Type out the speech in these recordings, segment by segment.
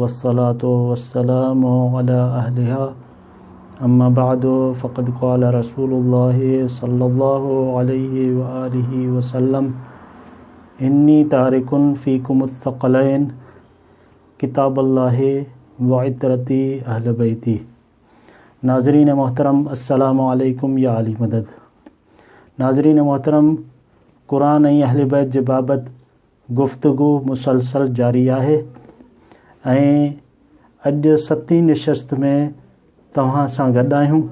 والصلاة والسلام علي اهلها اما بعد فقد قال رسول الله صلي الله عليه واله وسلم اني تارک فيكم الثقلين کتاب الله وعترتي اهل بيتي ناظرين محترم السلام عليڪم يا علي مدد ناظرين محترم قرآن ۽ اهل بيت جي بابت گفتگو مسلسل جاري آهي ۽ اڄ ستين نشست ۾ توهان سان گڏ آهيون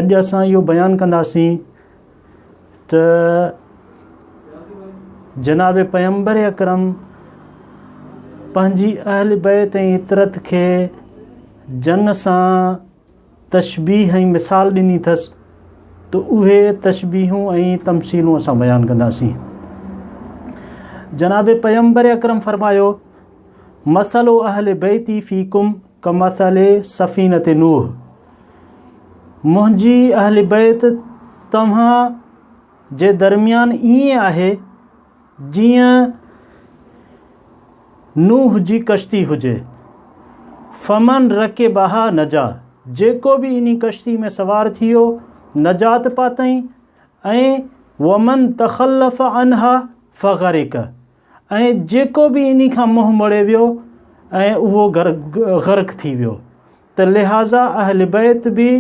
اڄ اسان اهو بيان ڪنداسين ته جناب پيمبر اڪرم پنهنجي اهل بيت ۽ عطرت کي جنگ سان تشبيهه ۽ مثال ڏني اٿس ته اهي تشبيهون ۽ تمثيلون اسان بيان ڪنداسين. جناب پيغمبر اڪرم فرمايو، مثل اهل بيتي فيڪم ڪمثل سفينة نوح منهنجي اهل بيت توهان جي درميان ائين آهي جيئن نوح جي ڪشتي هجي، فمن رڪبها نجا، جيڪو به انهي ڪشتي ۾ سوار ٿيو نجات پاتئين، ۽ ومن تخلف عنها فغرق، ۽ جيڪو به انهي کان منهن مڙي ويو ۽ اهو غرق ٿي ويو، ته لهذا اهل بيت به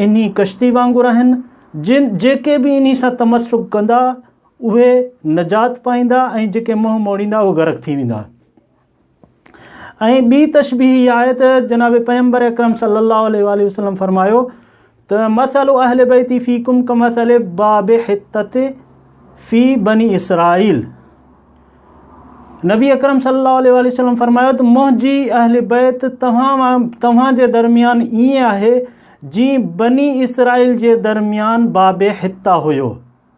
انهي ڪشتي وانگر آهن، جن جيڪي به انهي سان تمسڪ ڪندا اهي نجات پائيندا ۽ جيڪي منهن موڙيندا اهي غرق ٿي ويندا ۽ ٻي تشبيح اها آهي ته جناب پيمبر اڪرم صلي الله عليه وآله وسلم فرمايو ته مثل اهل بيتي في ڪم ڪمثل باب حتت في بني اسرائيل نبي اڪرم صلي الله عليه وآله وسلم فرمايو ته منهنجي اهل بيت توهان توهان جي درميان ائين آهي جي بني اسرائيل جي درميان باب حتا هيو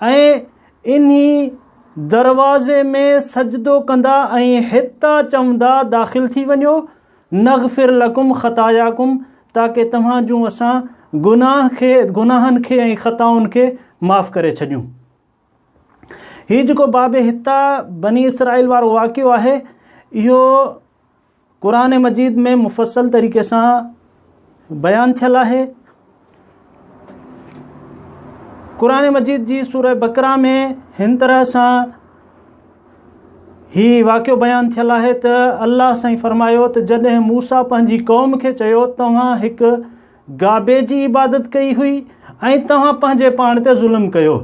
۽ انهي دروازي ۾ سجدو ڪندا ۽ هتان چوندا داخل ٿي وڃو نغفر لڪم خطاياڪم تاڪه توهان جون اسان گناهن کي گناهن کي ۽ خطائن کي معاف ڪري ڇڏيون هي جيڪو باب هتان بني اسرائيل وارو واقعو آهي اهو قرآن مجيد ۾ مفصل طريقي سان بيان ٿيل آهي قرآن مجيد جي سورة بقرا ۾ هن طرح سان هي واقعو بيان ٿيل آهي ته الله سائين فرمايو ته جڏهن موسا پنهنجي قوم کي چيو توهان هڪ گابي جي عبادت ڪئي هئي ۽ توهان پنهنجي پاڻ تي ظلم ڪيو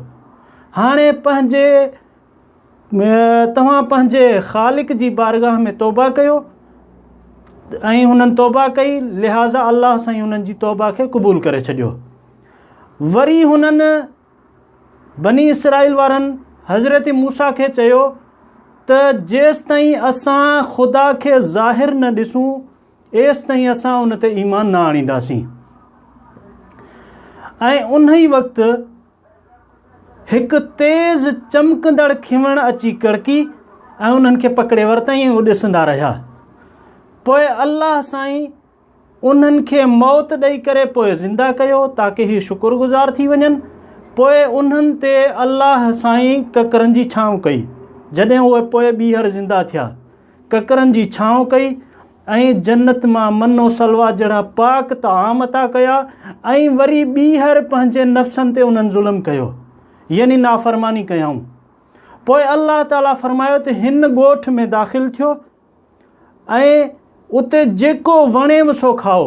هاڻي پنهنجي توهان پنهنجي خالق جي بارگاهه ۾ توبه ڪيو ۽ هنن توبه ڪئي لهٰذا الله سائين هنن جي توبه کي قبول ڪري ڇڏيو وري هنن بني اسرائيل وارن حضرت موسا کي چيو ته جيستائين اسان خدا کي ظاهر نه ڏسون ايستائين اسان ان تي ايمان نه آڻينداسين ۽ انهي وقت هڪ تيز چمڪندڙ کيوڻ اچي ڪڙڪي ۽ انهن کي پڪڙي ورتائين هو ڏسندا رهيا پوء الله سائين انهن کي موت ڏئي ڪري پوء زنده ڪيو تاڪه هي شڪر گذار ٿي وڃن پوء انهن تي الله سائين ڪڪرن جي ڇانو ڪئي جڏهن اهي پوء ٻيهر زنده ٿيا ڪڪرن جي ڇانو ڪئي ۽ جنت مان من و سلويٰ جهڙا پاڪ طعام عطا ڪيا ۽ وري ٻيهر پنهنجي نفسن تي انهن ظلم ڪيو يعني نافرماني ڪيائون پوء الله تعالي فرمايو ته هن ڳوٺ ۾ داخل ٿيو ۽ اتي جيڪو وڻيو سو کائو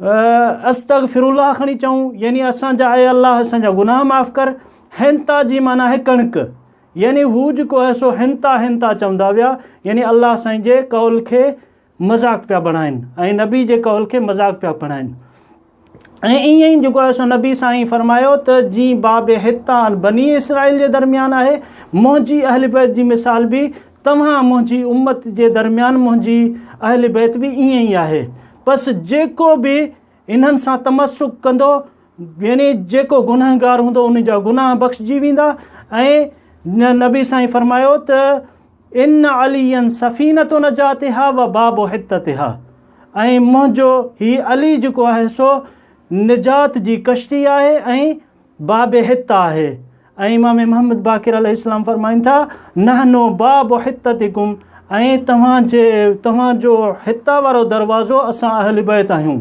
استغفر الله کڻي چئون يعني اسان جا اي الله اسان جا گناهه معاف ڪر هنتا جي معنی آهي ڪڻڪ يعني هو جيڪو آهي سو هنتا هنتا چوندا ويا يعني الله سائين جي قول کي مذاق پيا بڻائن ۽ نبي جي قول کي مذاق پيا بڻائن ۽ ائين ئي جيڪو آهي سو نبي سائين فرمايو ته جي باب هتان بني اسرائيل جي درميان آهي منهنجي اهل بيت جي مثال به توهان منهنجي امت جي درميان منهنجي اهل بيت به ائين ئي آهي پس جيڪو به انهن سان تمسڪ ڪندو يعني جيڪو گنهگار هوندو ان جا گناهه بخشجي ويندا ۽ نبي سائين فرمايو ته ان علي سفينه نجاتها و باب حتتها ۽ منهنجو هي علي جيڪو آهي سو نجات جي ڪشتي آهي ۽ باب حته آهي ۽ امام محمد باقر عليه السلام فرمائن ٿا نحنو باب حتتكم ۽ توهان جي توهان جو حتا وارو دروازو اسان اهل بيت آهيون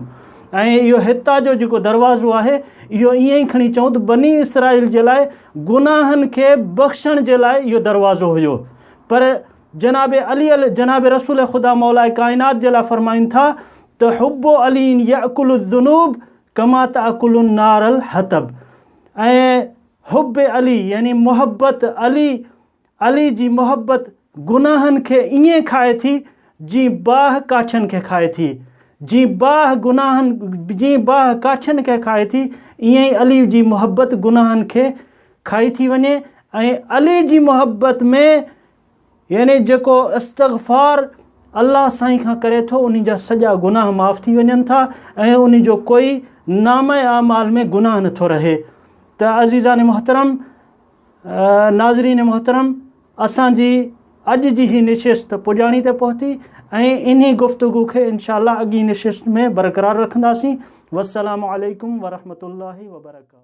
۽ اهو حتا جو جيڪو دروازو آهي اهو ائين ئي کڻي چئون ته بني اسرائيل جي لاء گناهن کي بخشڻ جي لاء اهو دروازو هيو پر جناب علي جناب رسول خدا مولا کائنات جي لاء فرمائن ٿا ته حب علي يعقل الذنوب ڪما تاڪل النار الحطب ۽ حب علي يعني محبت علي علي جي محبت گناهن کي ائين کائي ٿي جيئن باهه ڪاٺين کي کائي ٿي جيئن باهه گناهن جيئن باهه ڪاٺين کي کائي ٿي ائين ئي علي جي محبت گناهن کي کائي ٿي وڃي ۽ علي جي محبت ۾ يعني جيڪو استغفار الله سائين کان ڪري ٿو ان جا سڄا گناهه معاف ٿي وڃن ٿا ۽ ان جو ڪوئي نامه اعمال ۾ گناهه نٿو رهي ته عزيزان محترم ناظرين محترم اسان جي اڄ جي هي نشست پڄاڻي ته پهتي ۽ انهي گفتگو کي انشاء الله اڳي نشست ۾ برقرار رکنداسين والسلام عليڪم ورحمة الله وبرڪاته